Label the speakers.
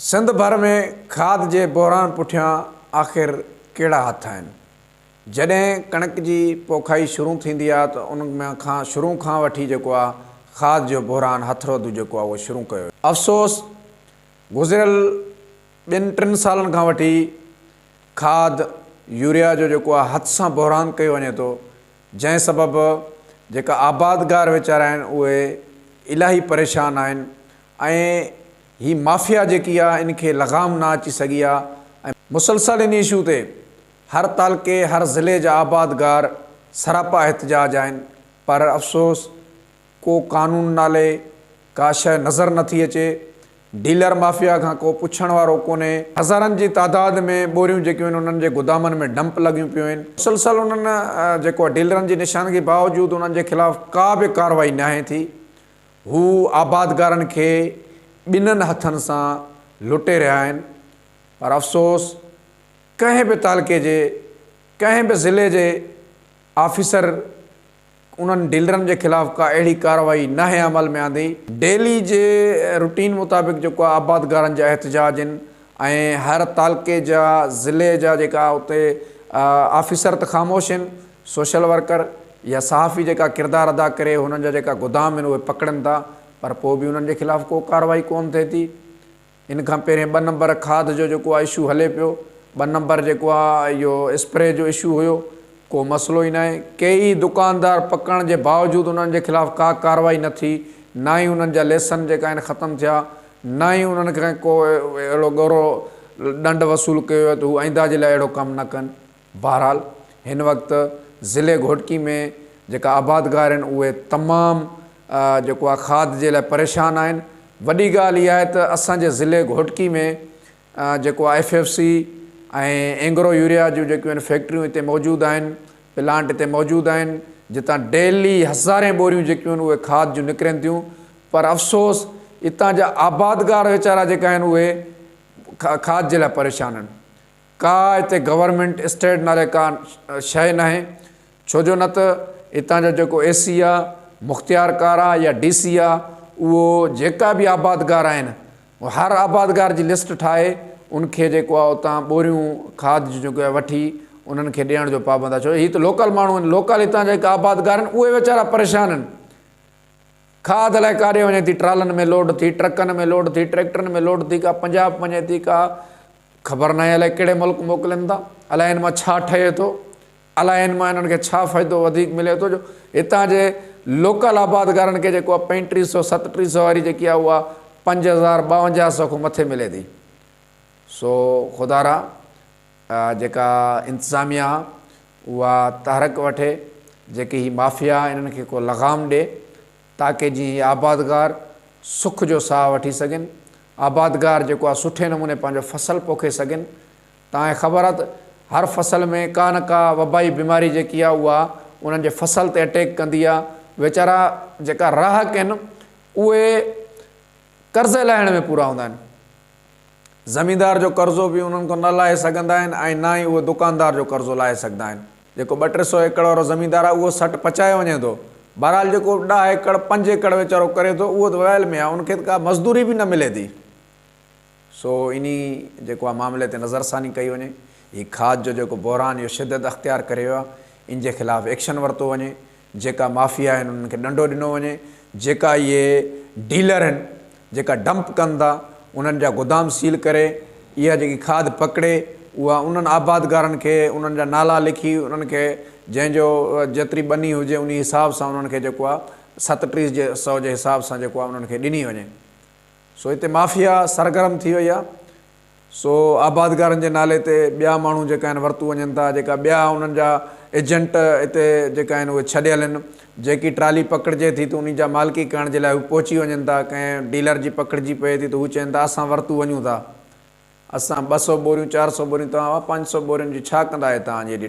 Speaker 1: سنڌ ڀر ۾ کاڌ جي بحران پٺيان آخر ڪهڙا هٿ آهن؟ جڏهن ڪڻڪ جي پوکائي شروع ٿيندي آ ته ان ۾ کان شروع کان وٺي جيڪو آ کاڌ جو بحران هٿ رودو جيڪو آ اهو شروع ڪيو ويو. افسوس گذريل ٻن ٽن سالن کان وٺي کاڌ يوريا جو جيڪو آ هٿ سان بحران ڪيو وڃي ٿو جنهن سبب جيڪا آبادگار ويچارا آهن اهي الاهي پريشان آهن ۽ هي مافيا جيڪي آ ان کي لغام نه اچي سگهي آ ۽ مسلسل ان اشو تي هر تعلقي هر ضلعي جا آبادگار سراپا احتجاج آهن پر افسوس ڪو قانون نالي ڪا شئي نظر نه ٿي اچي ڊيلر مافيا کان ڪو پڇڻ وارو ڪونهي. هزارن جي تعداد ۾ ٻوريون جيڪيون آهن انهن جي گودامن ۾ ڊمپ لڳيون پيون آهن مسلسل انهن جيڪو آ ڊيلرن جي نشاندگي باوجود انهن جي خلاف ڪا به ڪارروائي ناهي ٿي هو آبادگارن کي ٻنهن هٿن سان لٽي رهيا آهن پر افسوس ڪنهن به تعلقي جي ڪنهن به ضلعي جي آفيسر انهن ڊيلرن جي خلاف ڪا اهڙي ڪارروائي ناهي عمل ۾ آندي. ڊيلي جي روٽين مطابق جيڪو آهي آبادگارن جا احتجاج آهن ۽ هر تعلقي جا ضلعي جا جيڪا اتي آفيسر ته خاموش آهن سوشل ورڪر يا صحافي جيڪا ڪردار ادا ڪري هنن جا جيڪا گدام آهن اهي پڪڙن ٿا پر پوء به انهن جي خلاف ڪو ڪارروائي ڪون ٿئي ٿي ان کان پهرين ٻه نمبر کاڌ جو جيڪو آ اشو هلي پيو ٻه نمبر جيڪو آ اهو اسپري جو اشو هيو ڪو مسئلو ئي ناهي ڪيئي دڪاندار پڪڙڻ جي باوجود انهن جي خلاف ڪا ڪارروائي نه ٿي نه ئي انهن جا ليسن جيڪا آهن ختم ٿيا نه ئي انهن کي ڪو اهڙو ڳرو ڏنڊ وصول ڪيو ويو ته هو آئنده جي لاء اهڙو ڪم نه ڪن بهرحال هن وقت ضلعي گهوٽڪي ۾ جيڪا آبادگار آهن اهي تمام جيڪو آهي کاڌ جي لاء پريشان آهن وڏي ڳالهه اها آهي ته اسان جي ضلعي گهوٽڪي ۾ جيڪو آهي F F C ۽ Engro urea جون جيڪيون آهن فيڪٽريون هتي موجود آهن پلانٽ هتي موجود آهن جتان ڊيلي هزارين بوريون جيڪيون آهن اهي کاڌ جون نڪرين ٿيون پر افسوس اتان جا آبادگار ويچارا جيڪا آهن اهي کاڌ جي لاء پريشان آهن ڪا هتي گورنمينٽ اسٽيٽ نالي ڪا شيء ناهي ڇو جو نه ته هتان جو جيڪو اي سي آ مختيار ڪار آ يا ڊي سي آ اهو جيڪا به آبادگار آهن هر آبادگار جي لسٽ ٺاهي ان کي جيڪو آ اتان ٻوريون کاد جون جيڪو آهي وٺي انهن کي ڏيڻ جو پابند آ ڇو هي ته لوڪل ماڻهو آهن لوڪل هتان جا جيڪا آبادگار آهن اهي ويچارا پريشان آهن کاد الائي ڪاڏي وڃي ٿي ٽرالن ۾ لوڊ ٿي ٽرڪن ۾ لوڊ ٿي ٽريڪٽرن ۾ لوڊ ٿي ڪا پنجاب وڃي ٿي ڪا خبر ناهي الائي ڪهڙي ملڪ موڪلين ٿا، الائي هن مان ڇا ٺهي ٿو، الائي هن مان هنن کي ڇا فائدو وڌيڪ ملي ٿو جو هتان جي لوڪل آبادگارن کي جيڪو آهي پنج ٽي سؤ ست ٽي سؤ واري جيڪي آهي اها پنج هزار ٻاونجاهه سؤ کان مٿي ملي ٿي سو خدا را جيڪا انتظاميه آهي اها تحرڪ وٺي جيڪي هي مافيا انهن کي ڪو لغام ڏي تاڪي جي هي آبادگار سک جو ساهه وٺي سگهن آبادگار جيڪو آ سٺي نموني پنهنجو فصل پوکي سگهن. تانکي خبر آ ته هر فصل ۾ ڪا نه ڪا وبائي بيماري جيڪي آ اها انهن جي فصل تي اٽيڪ ڪندي آ. ويچارا جيڪا راهڪ آهن اهي قرض لاهڻ ۾ پورا هوندا آهن. زميندار جو قرضو به انهن کان نه لاهي سگهندا آهن ۽ نه ئي اهي دڪاندار جو قرضو لاهي سگهندا آهن. جيڪو ٻه ٽي سو ايڪڙ وارو زميندار آ اهو سٽ پچائي وڃي ٿو بهرحال جيڪو ڏهه ايڪڙ پنج ايڪڙ ويچارو ڪري ٿو اهو ته ويل ۾ آ ان کي ته ڪا مزدوري به نه ملي ٿي سو انهي جيڪو آ معاملي تي نظر ثاني ڪئي وڃي هي کاڌ جو جيڪو بحران اهو شدت اختيار ڪري ويو آ ان جي خلاف ايڪشن ورتو وڃي جيڪا مافيا آهن انهن کي ڏنڊو ڏنو وڃي، جيڪا اهي ڊيلر آهن جيڪا ڊمپ ڪن ٿا انهن جا گدام سيل ڪري اها جيڪي کاڌ پڪڙي اها انهن آبادگارن کي انهن جا نالا لکي انهن کي جنهن جو جيتري ٻني هجي انهي حساب سان انهن کي جيڪو آهي ست ٽيهه سئو جي حساب سان جيڪو آهي انهن کي ڏني وڃي. سو هتي مافيا سرگرم ٿي وئي آهي سو آبادگارن جي نالي تي ٻيا ماڻهو جيڪا آهن ورتو وڃن ٿا جيڪا ٻيا انهن جا ايجنٽ هتي جيڪا آهن اهي ڇڏيل آهن جيڪي ٽرالي پڪڙجي ٿي ته انهي جا مالڪي ڪرڻ جي لاء هو پهچي وڃن ٿا ڪنهن ڊيلر جي پڪڙجي پئي ٿي ته هو چين ٿا اسان ورتو وڃون ٿا اسان ٻه سؤ ٻوريون چار سؤ ٻوريون توهان پنج سؤ ٻورين جي ڇا ڪندا اهي توهان جي ايڏي